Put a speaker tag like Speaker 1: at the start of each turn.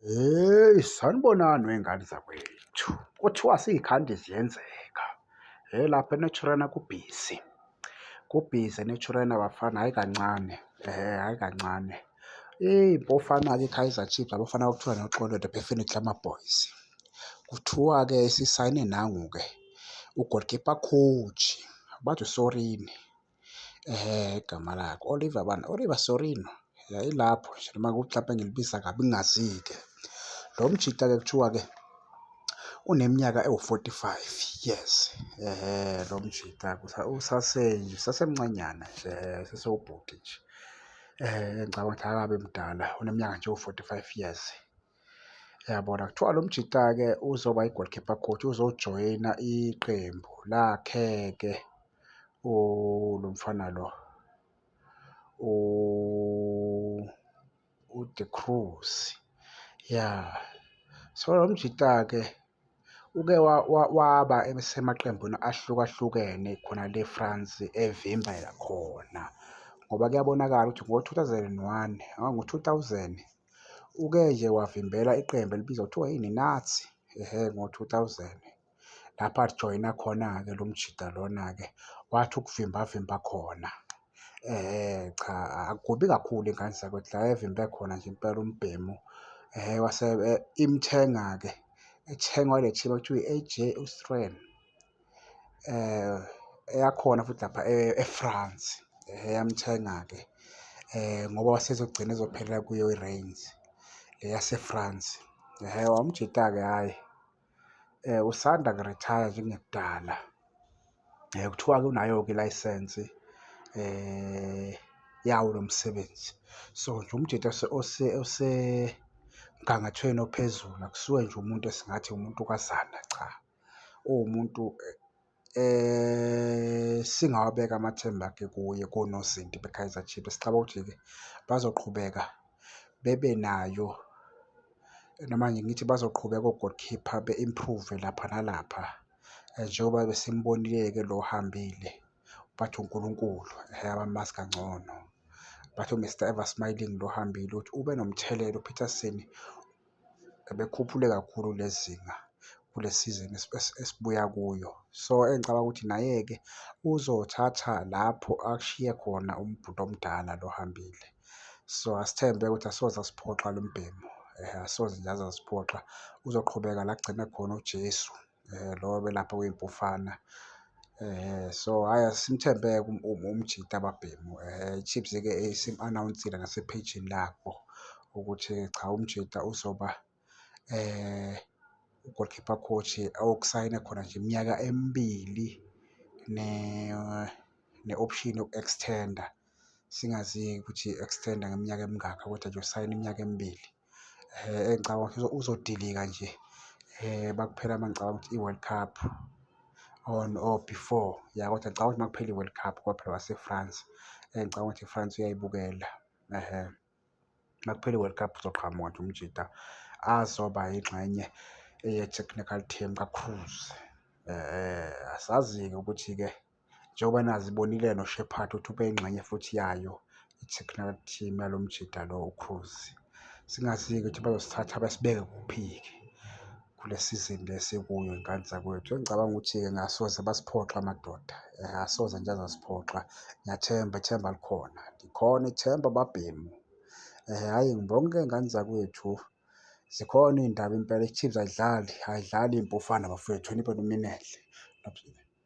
Speaker 1: Hheyi sanibonani wey'ngane zakwethu, kuthiwa siy'khandi ziyenzeka. Hheyi lapha eNaturena kubhizi, kubhizi eNaturena bafana, hhayi kancane, hhayi kancane. Iy'mpofana-ke iKaizer Chiefs, abafana okuthiwa noXolo the Bafana Glamour Boys. Kuthiwa-ke isisayine nangu-ke u-goalkeeper coach, bathi uSorini. Eh igama lakhe Oliver bani? Oliver Sorino. Yayilapho nje noma kuxape ngilibiza kabi ngingazike. Lo mjita-ke kuthiwa-ke uneminyaka ewu-45 years. Ehhe lo mjita usasenje usasemncanyana nje sesewubhuti nje. Ngicabanga ukuthi akabe mdala uneminyaka nje ewu-45 years. Yabona kuthiwa lo mjita-ke uzoba i-goalkeeper coach, uzojoyina iqembu lakhe-ke lo mfana lo uDe Cruz. Ya, so lo mjita-ke Uke waba semaqembini ahlukahlukene khona le France evimba khona ngoba kuyabonakala ukuthi ngo-two thousand and one ngo-two thousand uke nje wavimbela iqembu elibizwa ngokuthiwa yiNazi ehe ngo-two thousand. Lapho ajoyina khona-ke lo mjita lona-ke wathi ukuvimba avimba khona. cha akubi kakhulu ingane zakwethu la evimba khona nje impela umbhemu wase imthenga-ke ethengwa ile team okuthiwa i-A_J Austrian eyakhona futhi lapha e-France yamthenga-ke ngoba wasezogcina ezophelela kuyo i-range le yase-France. Wamjita-ke hhayi. um usanda kurithaya njengekudala um kuthiwa-ke unayo-ke ilayisensi um yawo lo msebenzi so nje umjita osemgangathweni ophezulu akusuke nje umuntu esingathi umuntu kazana cha uwumuntu Singawabeka amathemba-ke kuye konozinti beKaizer Chiefs, sicabanga ukuthi-ke bazoqhubeka bebe nayo noma nje ngithi bazoqhubeka o-goal keeper be-improve-ve lapha nalapha njengoba besimbonile-ke lo ohambile bathi uNkulunkulu eyabamazi kangcono. Bathi u-Mister Ever Smiling lo ohambile uthi ube nomthelela uPeterson. bekhuphule kakhulu lezinga kule sizini esibuya kuyo. So engicabanga ukuthi naye-ke uzothatha lapho akushiye khona umbhuti omdala lo ohambile. So asithembe ukuthi asoze asiphoxa lo mbhemu, asoze nje aze asiphoxa, uzoqhubeka la kugcine khona uJesu. um lo obelapha kwiMpufana. So, hhayi asimthembe-ke umjita babhemu. IChiefs-ke isim-anawunsile nasephejini labo ukuthi cha umjita uzoba u-goal keeper coach okusayine khona nje iminyaka emibili ne-option yoku-extend-a. Singazi-ke ukuthi i-extend-a ngeminyaka emingaka kodwa nje usayine iminyaka emibili. ngicabanga ukuthi uzodilika nje uma kuphela uma ngicabanga ukuthi i-World Cup on or before, ya kodwa ngicabanga ukuthi uma kuphela i-World Cup ngoba phela wase-France ngicabanga ukuthi i-France uyayibukela. Uma kuphela i-World Cup uzoqhamuka nje umjita azoba yingxenye ye-technical team kaCroos. Asazi-ke ukuthi-ke. Njengoba nazi ibonile noShepherd ukuthi ubeyingxenye futhi yayo i-technical team yalo mjida lo uCruz. Singazi-ke ukuthi bazosithatha basibeke kuphi-ke kule sizini le esikuyo ingane zakwethu. Engicabanga ukuthi-ke ngasoze basiphoxa madoda, eh, asoze nje azasiphoxa. Ngiyathemba ithemba likhona, likhona ithemba babhemu. Eh, hhayi ngibonke ngane zakwethu zikhona iy'ndaba impela, i-Chiefs ayidlali, ayidlali iy'mpufane bafowethu, niphe nominenhle.